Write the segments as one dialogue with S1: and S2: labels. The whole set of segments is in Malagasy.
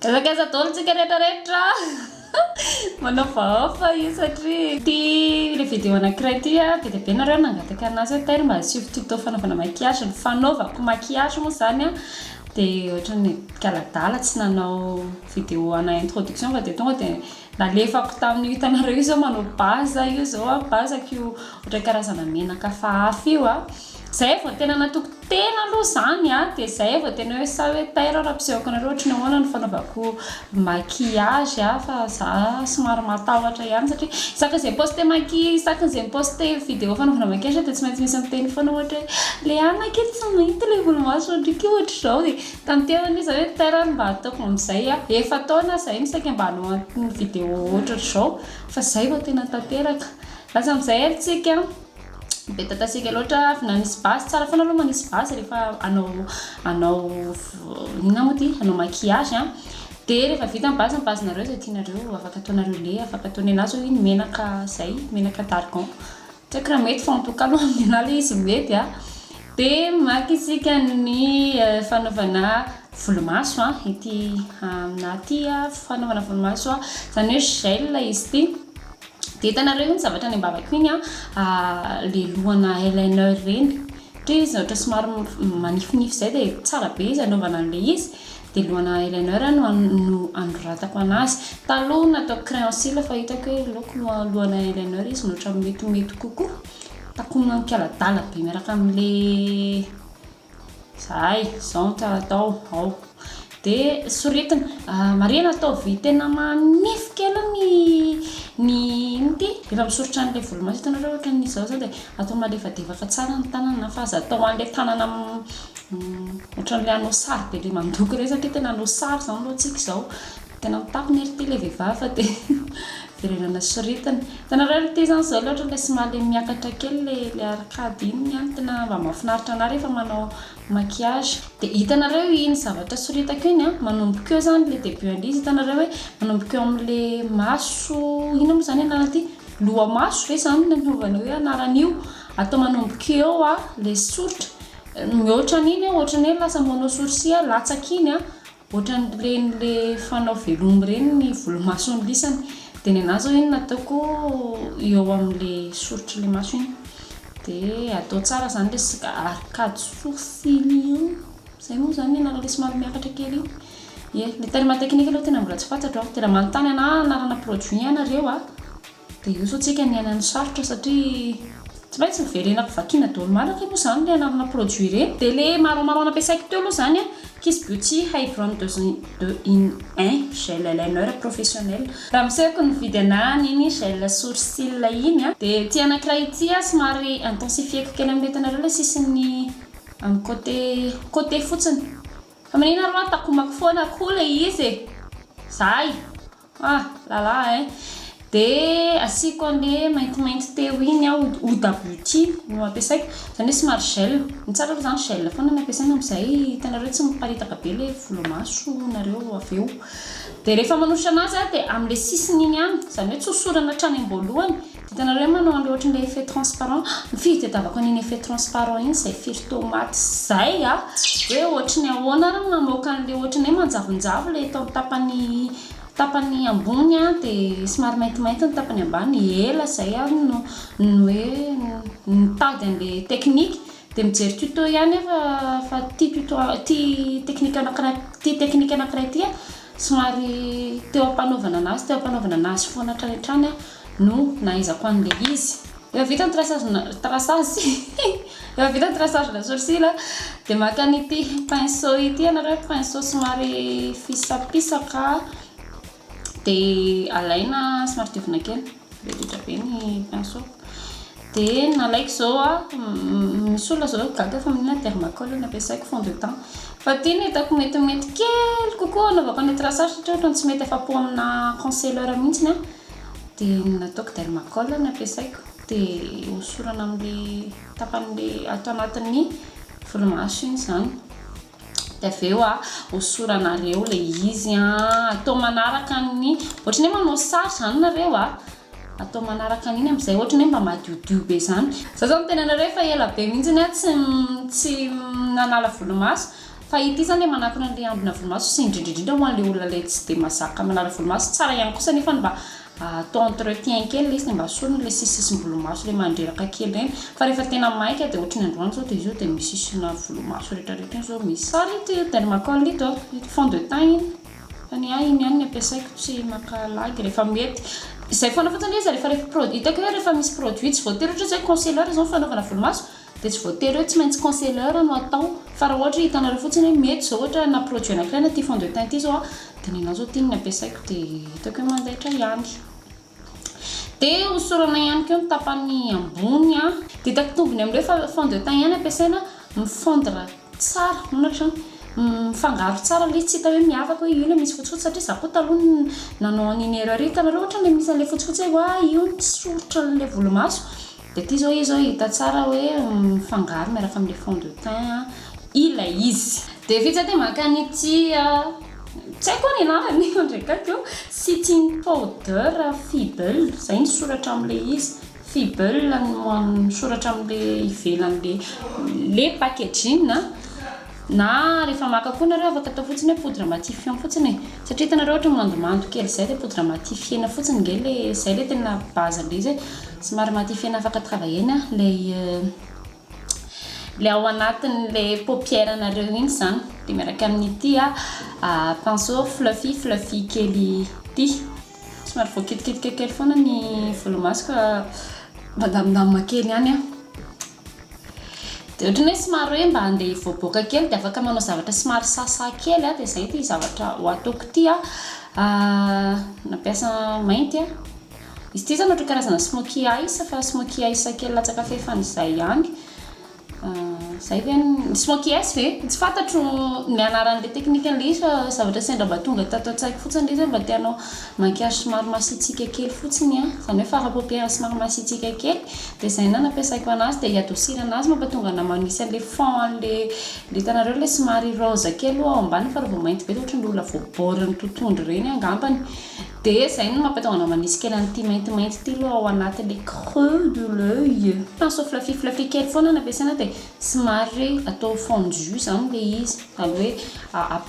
S1: Ezaka aiza daholo tsika rehetra rehetra manaovahaofa io satria ity ilay video anakiray ity a be dia be nareo nangataka anazy hoe Tel mba asio tuto fanaovana maquillage ny fanaovako maquillage moa zany a dia ohatran'ny kala-dala tsy nanao video ana introduction fa dia tonga dia Nalefako tamin'io hitanareo io zao manao baza io zao a, baza ko io ohatran'ny karazana menaka hafa hafa io a, zay vao tena natoky tena aloha zany a, de zay vao tena hoe sa hoe tairo aho raha ampisehoako anareo ohatry ny ahoana ny fanaovako maquillage a, fa za somary matahotra ihany satria isaka izay mi-poster maqui- isaka izay mi-poster vidéo fanaovana maquillage dia tsy maintsy misy miteny foana ohatra hoe Léa anakay tsy mahita ilay volomasonao ndriky ohatrizao e, Tanterany izy hoe Terany mba ataoko amizay a! Efa taona zay no saika mba hanao an'itony vidéo ohatratr'izao fa zay vao tena tanteraka! Lasa amizay ary tsika be tatasika loatra avy nanisy base, tsara foana aloha manisy base rehefa hanao hanao inona moa ty? hanao maquillage a! de rehefa vita ny base ny base nareo zay tianareo afaka ataonareo lait, afaka ataonay anazy hoy i ny menaka zay, menaka d'argan. Tsy haiko raha mety fa en tout cas aloha amin' ahy ilay izy mety a! Dia maka isika ny fanaovana volomaso a, ity aminà ity a, fanaovana volomaso a, izany hoe gel izy ity. Dia hitanareo io ny zavatra any am-bavako iny a, ilay lohana eyeliner ireny. Ohatra hoe izy ohatra somary manifinify izay dia tsara be izy anaovana an'ilay izy. Dia lohana eyeliner no no anoratako an'azy. Taloha nataoko crayon cils fa hitako hoe loako loha lohana eyeliner izy no ohatran'ny mety ho mety kokoa. Takonina am-pialadala be miaraka amin'ilay zahay, izao no tsara atao, ao. Dia soritina. Marihina ataovy tena manify kely ny ny inona ity? Rehefa misoritra an'ilay volomaso hitanareo ohatran'ny izao izao dia atao malefadefaka tsara ny tanana fa aza atao an'ilay tanana Ohatran'ilay hanao sary be dia mandoko ireny satria tena hanao sary izany aloha tsika izao. Tena mitapona ery ity ilay vehivavy fa dia verenana soritany. Hitanareo ilay ity izany izao ilay ohatran'ilay somary miakatra kely ilay ilay arcade iny ny ahy tena mba mahafinaritra anà rehefa manao maquillage. Dia hitanareo iny zavatra soritako iny an, manomboka eo izany ilay début an'ilay izy. Hitanareo hoe manomboka eo amin'ilay maso, inona moa izany anaran'ity? Lohamaso ve izany no anaovana hoe anaran'io? Atao manomboka eo ilay soritra Mihoatra an'iny aho ohatrany hoe lasa manao sourcil aho latsaka iny an, ohatrany reny le fanao veloma ireny ny volomasony lisany, de ny anah zao iny nataoko eo amle soritr'le maso iny, de atao tsara zany le sisika ary kajy sourcil io, zay moa zany ny anarany le somary miakatra kely iny, ye, le terme technique aloha tena mbola tsy fantatro an, tena manontany anah anarana produit ianareo an. Dia eo izao tsika miaina ny sarotra satria tsy maintsy miverenako vakiana daholo malaka aloha izany le anarana produit ireny dia le marron marron nampiasaiko teo aloha izany an kiss beauty hybron deux in un gel eyeliner professionnel raha misehoko ny mividy ana an'iny gel sourcil iny an dia ity anakiray ity an somary intensifieko kely amin'ilay hitanareo ilay sisin'ny amin'ny côté côté fotsiny fa manina ary hoa takomako foana koa ilay izy e! zay! Ah la la eh! De asiako anle maintimainty teo iny aho, eau d'abouti no ampiasaiko, izany hoe somary gel, ny tsara aloha izany gel foana no ampiasaina amin'izay hitanareo tsy miparitaka be ilay volomaso nareo avy eo, dia rehefa manosotra an'azy aho dia amin'ilay sisiny iny ihany, izany hoe tsy hosorana hatrany am-boalohany, Hitanareo hoe manao an'ilay ohatran'ilay effet transparent, ny firy tadiavako an'iny effet transparent iny izay firy tomate izay a! hoe ohatran'ny ahoana ary ny mamoaka an'ilay ohatran'ny hoe manjavonjavo ilay eto amin'ny tapany tapany ambony a, dia somary maintimainty ny tapany ambany, ela izay aho no no hoe nitady an'ilay technique, dia mijery tuto ihany aho fa fa ity tuto ity technique anankiray ity technique anankiray ity a, somary teo am-panaovana an'azy teo am-panaovana an'azy foana hatrany hatrany aho. no nahaizako an'ilay izy efa vita ny traçage na traçage hihi efa vita ny traçage na sourcil a dia maka an'ity pinceau ity ianareo pinceau somary fisapisaka dia alaina somary diovina kely rehetra be ny pinceau dia nalaiko izao a misy olona izao gaga fa maninona ny dermacol no ampiasaiko fond de teint fa ity no hitako metimety kely kokoa anaovako an'ilay traçage satria ohatran'ny tsy mety afa-po amina concealer mihitsy a Dia ny nataoko dermacol no ampiasaiko dia hosorana amin'ilay tapan'ilay ato anatin'ny volomaso iny izany dia avy eo a hosoranareo ilay izy an, atao manaraka ny ohatran'ny hoe manao sary izany nareo a, atao manaraka an'iny amin'izay ohatran'ny hoe mba madiodio be izany, izaho izao miteny anareo efa ela be mihintsy aho tsy tsy nanala volomaso Fa ity izany dia manakona an'ilay ambina volomaso sy indrindra indrindra ho an'ilay olona ilay tsy dia mazaka manala volomaso. Tsara ihany kosa anefa ny mba atao entretien kely ilay izy dia mba asorina ilay sisisisim-bolomaso ilay mandreraka kely ireny. Fa rehefa tena maika dia ohatry ny androany izao dia izy io dia misisina volomaso rehetrarehetra iny izao misy. Tsara ito dermacol ito a, ito fond de teint iny. Fa ny ahy iny ihany ny ampiasaiko, tsy maka lagy rehefa mety. Izay foana fotsiny ilay izy rehefa rehefa pro- hitako hoe rehefa misy produit tsy voatery ohatra hoe izao hoe concealer izao ny fanaovana volomaso, Dia tsy voatery hoe tsy maintsy concealer no atao fa raha ohatra hoe hitanareo fotsiny hoe mety izao ohatra na produit anankiray na ity fond de teint ity izao a dia ny anao izao ity no nampiasaiko dia hitako hoe mandaitra ihany dia hosorana ihany koa ny tapany ambony a dia hitako tombony amin'ireo fa fond de teint ihany ampiasaina mi fondre tsara hono hatrany mifangaro tsara ilay izy tsy hita hoe miavaka hoe io ilay misy fotsifotsy satria izaho koa taloha no nanao an'iny erreur iny hitanareo ohatra ilay misy an'ilay fotsifotsy hoe oay io no tsy soritra an'ilay volomaso Dia ity izao izy hita tsara hoe mifangaro miaraka amin'ilay fond de teint ilay izy. Dia vita dia maka an'ity, tsy haiko ho'a ny anarany fa ndray kay ko, Setting powder feeble, izay ny soratra amin'ilay izy, feeble no soratra amin'ilay ivelan'ilay packaging. Na rehefa maka koa nareo afaka atao fotsiny hoe poudre matifiant fotsiny e. Satria hitanareo ohatra mandomando kely zay le poudre matifiena fotsiny nge le zay le tena base ndray zay somary matifiena afaka travailler-na ilay ilay ao anatin'le paupière nareo iny zany de miaraka amin'ity pinceau fluffy fluffy kely ity somary voakitikitika kely foana ny volomasoko mandamindamina kely ihany an. Dia ohatran'ny hoe somary hoe mba andeha hivoaboaka kely dia afaka manao zavatra somary sasa kely dia izay ity zavatra ho ataoko ity an, nampiasa mainty an, izy ity izany ohatran'ny karazana smokey eyes fa smokey eyes kely latsaka fahefany izay ihany, izay ve ny, smokey eyes ve? Tsy fantatro ny anaran'ilay teknikan'ilay izy fa zavatra sendra mba tonga tato an-tsaiko fotsiny ilay izy hoe mba te hanao. Maquillage somary masiatsiaka kely fotsiny an, izany hoe fard paupière somary masiatsiaka kely, dia izay na nampiasaiko anazy dia hi-adoucir anazy mampatonga anah manisy an'ilay fond an'ilay, ilay hitanareo ilay somary rose kely ao ambany fa raha vao mainty be dia ohatran'ny olona voaborin'ny totohondry ireny angambany, dia izay no mampatonga anah manisy kely an'ity maintimainty ity aloha ao anatin'ilay creux de l'oeil, pinceau fluffy fluffy kely foana no ampiasaina dia Somary re atao fondu zany le izy zany hoe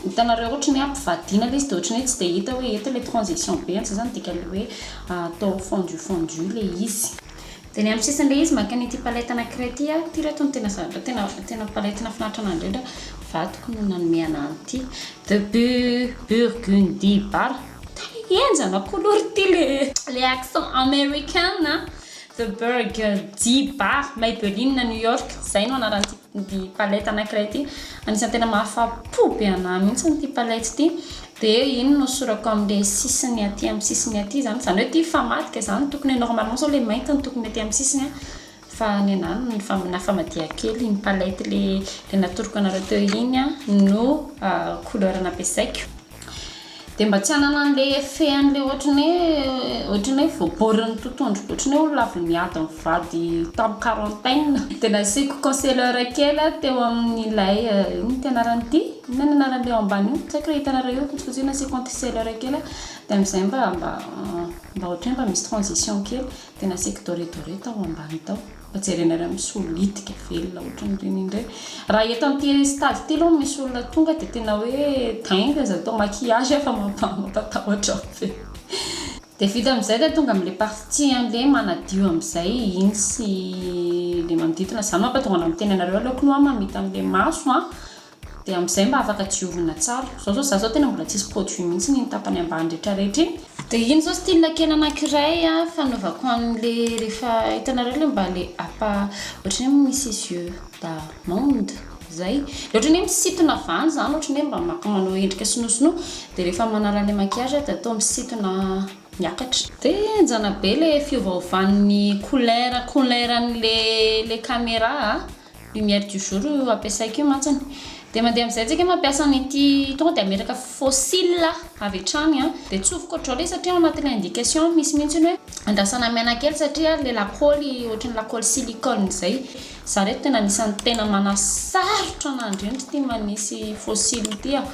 S1: hitanareo ohatry ny hoe ampivadiana le izy de ohatry ny hoe tsy de hita hoe eto le transition be zany zany dikany hoe atao fondu fondu le izy. De ny amin'ny sisiny le izy maka an'ity palette anakiray ity aho, ty re to no tena zavatra tena tena palette nafinaritra anahy indrindra, vadiko no nanome anahy an'ity de bu burgundy bar tena henjana couleur ty le le accent american an! The Berg, G-Bar, Maybelline, New York, izay no anaran'ity palette anankiray ity. Anisan'ny tena mahafa-po be an'ahy mihitsy ity palette ity. Dia iny no sorako amin'ilay sisiny aty amin'ny sisiny aty izany. Izany hoe ity mifamadika izany, tokony hoe normalement izao ilay mainty no tokony aty amin'ny sisiny fa ny an'ahy no nifa- nafamadiako kely. Iny palette ilay natoroko anareo teo iny no couleur nampiasaiko. dia mba tsy hanana an'ilay effet an'ilay ohatran'ny hoe ohatran'ny hoe voaborin'ny totohondry ohatran'ny hoe olona avy niady mivady tamin'ny quarantaine dia nasiako conceleur kely aho teo amin'ilay inona ity anarany ity? inona ny anaran'ilay ao ambany io? tsy haiko raha hitanareo eo fotsifotsy nasiako conceleur kely aho dia amin'izay mba mba mba ohatran'ny hoe mba misy transition kely dia nasiako doré doré tao ambany tao Mba jerena ilay misolo litika velona ohatran'ireny indray. Raha eto amin'ity stade ity aloha misy olona tonga dia tena hoe dingue zay atao maquillage efa mampatahotra be. Dia vita amin'izay dia tonga amin'ilay partie an'ilay manadio amin'izay iny sy ilay manodidina. Izany mampatonga anao miteny anareo aleoko aloha mamita an'ilay maso an. Dia amin'izay mba afaka diovina tsara. Izao izao za izao tena mbola tsisy produit mihitsiny iny tapany ambany rehetra rehetra iny. Dia iny izao style kena anankiray a fanaovako an'le rehefa hitanareo le mba le apa ohatry ny hoe misy yeux d'amande zay. Le ohatry ny hoe misintona avy any zany ohatry ny hoe mba maka manao endrika sinonosinoa. Dia rehefa manala an'le maquillage aho dia atao misintona miakatra. Dia enjana be le fiovaovan'ny couleur couleur an'le le camera a. Lumière du jour io ampiasaiko io mantsiny dia mandeha amin'izay antsika mampiasa an'ity tonga dia ameraka fossiles avy hatrany an, dia tsofiko ohatr'izao ilay izy satria ao anatin'ilay indication misy mihitsy ny hoe andrasana maina kely satria ilay lakôly ohatry ny lakôly silicone izay, za reto tena anisan'ny tena manasarotra an'Andrianitra ity manisy fossiles ity an.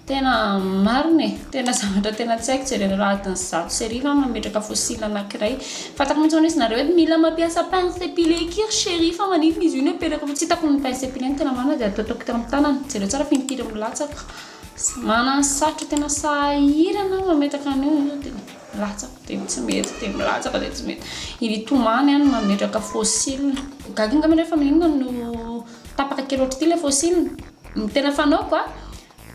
S1: Tena marina e! Tena zavatra tena tsy haiko jerena raha adin'ny zato sy arivo aho no mametraka fossile anankiray. Fantako mihitsy hono izy nareo eto mila mampiasa pince à épiler akia ry chérie fa maninona izy io no apetraka fa tsy hitako ny pince à épiler ny tena marina dia ataotaoko teo amin'ny tanana. Jereo tsara fa impiry milatsaka. Manana ny sarotra tena sahirana aho mametraka an'io nefa dia milatsaka dia tsy mety dia milatsaka dia tsy mety. Hitomany aho ny mametraka fossile. Gaga angaha nareo fa maninona no tapaka kely ohatr'ity ilay fossile? Ny tena fanaoko a,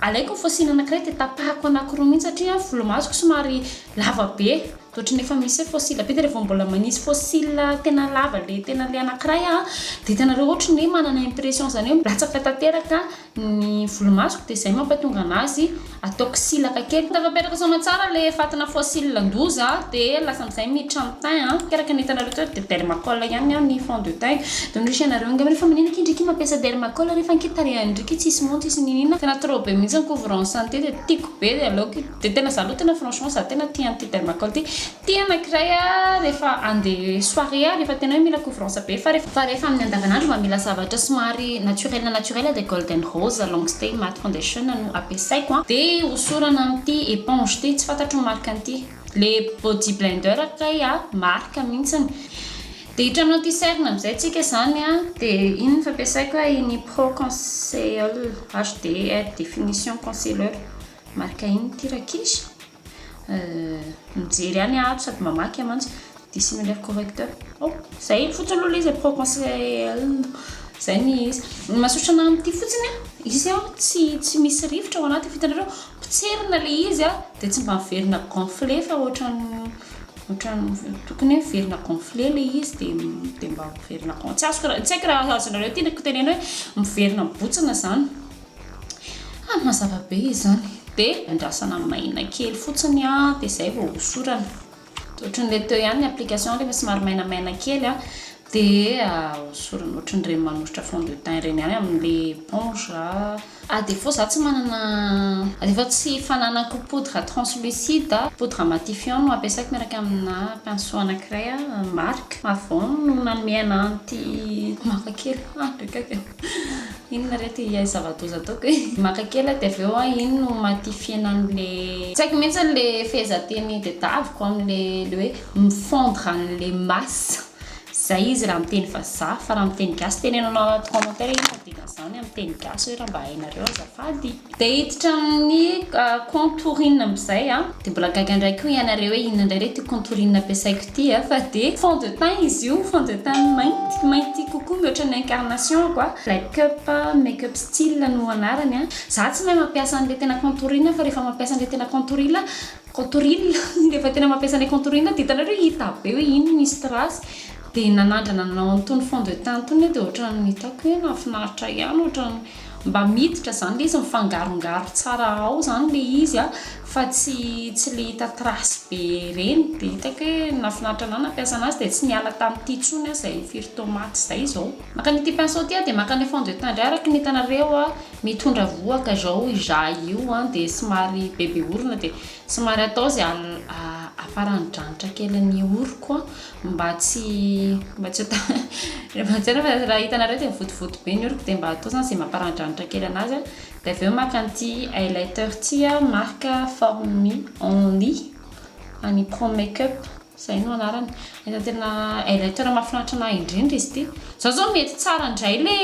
S1: alaiko ny fôsiny anankiray de tapahako anankiroa mihitsy satria volomasoko somary lava be, de ohatran'ny efa misy hoe fôsila be de revô mbola manisy fôsila tena lava le tena le anankiray aho de hitanareo ohatry ny hoe manana impression zany hoe latsaka tanteraka ny volomasoko de zay mampatonga anazy. Ataoko silaka kely. Tava apetraka saona tsara le fatina fossile an-doza de lasa amzay miditra am thym a. Ke araka ny hitanareo teto de dermacol ihany ny ahy ny fond de teint. De hoy ianareo angamba refa manina akia ndriky mampiasa dermacol refa akia tarehan ndriky tsisy monja tsisy ninina. Tena trop be mintsy ny couvrant santé de tiko be de aleoko io. De tena za aloha tena franchement za tena tia an'ity dermacol ty. Tena anankiray a rehefa ande soirée a rehefa tena hoe mila couvrance be fa rehefa fa rehefa amin'ny andavanandro mba mila zavatra somary naturel na naturel dia golden rose long stay matte foundation no ampiasaiko a dia hosorana amin'ity eponge ity tsy fantatro ny marque an'ity le body blender kay a marque mihintsiny dia hitrano an'ity cerne amin'izay tsika izany a dia iny ny fampiasaiko a iny pro conseil HD haute definition concealer marque iny ity rankizy Euh, mijery any ato sady mamaky a mantsy dia sy mi-lire correcteur. Oh, izay fotsiny aloha ilay izy e, proconseil, izay ny izy. Ny mahasosotra anahy amin'ity fotsiny a, izy a tsy tsy misy rivotra ao anatiny fa hitanareo potserina ilay izy a dia tsy mba miverina gonflé fa ohatran'ny ohatran'ny tokony hoe miverina gonflé ilay izy dia dia mba miverina gon- tsy azoko raha, tsy haiko raha azonareo ity tenenina hoe miverina mibontsina izany. Ah mazava be izany. De andrasana maina kely fotsiny a de zay vao hosorana. Ohatrin'ilay teo ihany ny application rehefa somary mainamaina kely a de hosorana ohatrin'ireny manosotra fond de teint ireny ihany amin'ilay éponge. Ah de fô za tsy manana ah de fô tsy fananako poudre translucide, poudre matifiant no ampiasaiko miaraka amina pinceau anankiray marque avon no nanome anah an'ity maka kely ah ndreka kay. Inona re ty ilay zava-doza ataoko e? Maka kely aho dia avy eo an, iny no matifihana an'ilay. Tsy haiko mihitsy ilay fehezanteny tedaviko amin'ilay hoe mifondre an'ilay masse. Izay izy raha amin'ny teny vazaha. Fa raha amin'ny teny gasy, teneno anao anaty commentaire hoe inona ny dikan'izany amin'ny teny gasy hoe raha mba hainareo azafady. Dia hiditra amin'ny contourine amin'izay a. Dia mbola gaga indray koa ianareo hoe inona indray re ity contourine ampiasaiko ity a. Fa dia fond de teint izy io, fond de teint mainty, mainty kokoa mihoatra ny incarnation-ko a. Black up, make up style no anarany a. Izaho tsy mahay mampiasa an'ilay tena contourine fa rehefa mampiasa an'ilay tena contourine, contourine, rehefa tena mampiasa an'ilay contourine dia hitanareo hita be hoe iny misy trace. Dia nanandrana nanao an'itony fond de teint itony aho dia ohatran'ny nitaky hoe nahafinaritra ihany, ohatran'ny. mba miditra zany le izy mifangarongaro tsara ao zany le izy a fa tsy tsy le hita trace be reny de hitako hoe nafinaritra anah nampiasa anazy de tsy niala tamty tsony ah zay firy tomate zay zao. Maka an'ity pinceau ity ah de maka anle fond de teint ndray araky ny hitanareo ah mitondra vohoka zao izah io ah de somary bebe orona de somary atao zay afaran'ny dranitra kelin'ny oroko ah mba tsy mba tsy ho tsy haiko raha hitanareo dia votovoto be ny oroko dia mba atao izany izay mamparanidranitra kely an'azy an, dia avy eo maka an'ity highlighter ity marque formy only any pro make up izay no anarany, efa tena highlighter mahafinaritra an'ahy indrindra izy ity, izao izao mety tsara indray ilay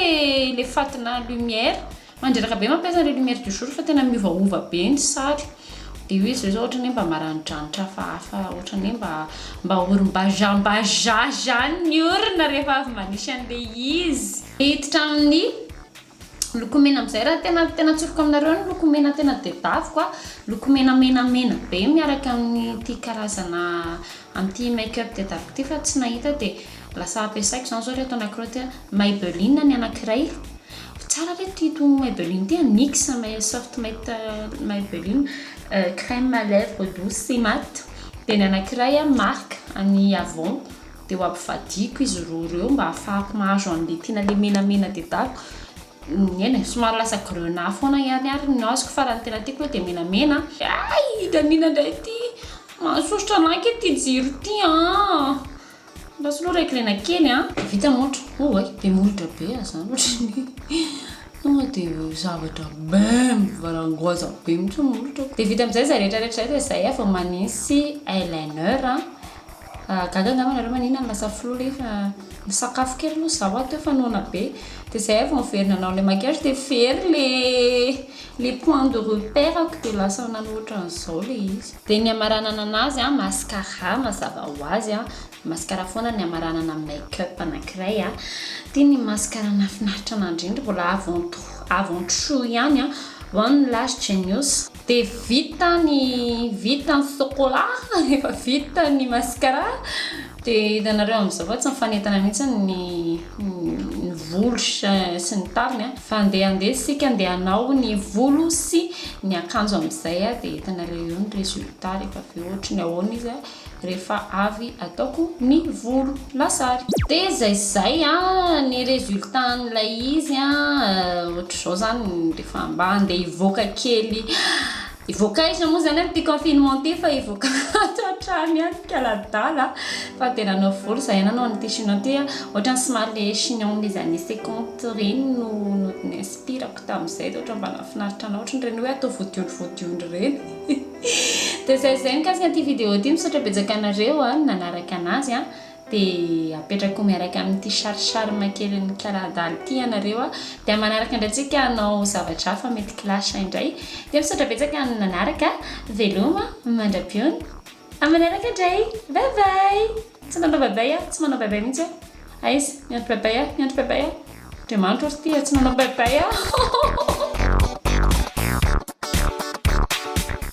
S1: ilay fatina lumière Mandreraka be mampiasa an'ireo lumière du jour fa tena miovaova be ny sary. Dia io izy ireo izao ohatran'ny hoe mba maranidranitra hafahafa, ohatran'ny hoe mba mba orim-bazambazaha izany ny orona rehefa avy manisy an'ilay izy. Hiditra amin'ny loko mena amin'izay raha tena tena atsofoka aminareo ny loko mena tena tedaviko a, loko mena menamena be miaraka amin'ity karazana amin'ity make up tedaviko ity fa tsy nahita dia. Lasa ampiasaiko izany izao ry reto anankiroa ity an, Maybelline ny anankiray, tsara ry reto ity Maybelline ity an, Nix soft matte Maybelline, crème à lèvres douce sy matte, dia ny anankiray an marque an'i Avon, dia ho ampivadiako izy roa ireo mba hahafahako mahazo an'ilay tiana ilay menamena dedako, eny e, somary lasa grenat foana ihany ary no azoko fa raha ny tena tiako aloha dia menamena an, hay i Danina indray ity mahasosotra anah ange ity jiro ity an. Mba soloy ry Aikrena kely an! Vita montre oh way be molotra be ah zany otrany tonga de zavatra bem varangoaza be mitsy ny molotrako de vita amizay zay rehetra rehetra zay de zay ah vao manisy eyeliner an ah gaga ngamba nareo manina ny lasa flou ley fa misakafo kely aloha za hoa teo fa noana be de zay ah vao miverina nanao le maquillage de very le le point de repère-ko de lasa nanao otran'izao le izy. Dia ny hamaranana anazy an, mascara mazava ho azy an, mascara foana ny hamaranana ny make up anankiray an, dia ny mascara nahafinaritra anahy indrindra mbola avant tout, avant tout ihany an, one lash genius, dia vita ny vita ny sokola, efa vita ny mascara, dia hitanareo amin'izao fa tsy mifanentana mihintsy ny. ny volo sy ny tariny fa ndeha andeha isika ndeha hanao ny volo sy ny akanjo amin'izay dia hitanareo eo ny résultat rehefa avy eo ohatry ny ahoana izy rehefa avy ataoko ny volo lasary dia izay sy izay ny résultat an'ilay izy ohatr'izao izany rehefa mba andeha hivoaka kely Hivoaka aiza moa izany amin'ity confinement ity fa hivoaka ato an-trano ihany ny kala-dala fa dia nanao volo izahay nanao an'ity chignon ity ohatran'ny somary le chignon les années cinquante ireny no ni-inspirako tamin'izay dia ohatran'ny mba nahafinaritra anao ohatran'ireny hoe atao vodiondry vodiondry ireny dia izay izay mikasika an'ity vidéo ity misaotra betsaka anareo nanaraka an'azy a Dia apetrakao miaraka amin'ity charme kelin'i Kaladala ity ianareo a! Dia manaraka indray tsika hanao zavatra hafa mety clash indray. Dia misaotra betsaka ny nanaraka, veloma mandra-piony. Amin'ny manaraka indray, bye bye! Tsy nanao bye bye aho, tsy manao bye bye mihitsy aho. Aiza? Miandry bye bye aho, miandry bye bye aho. Andriamanitra ory ity a! Tsy nanao bye bye aho.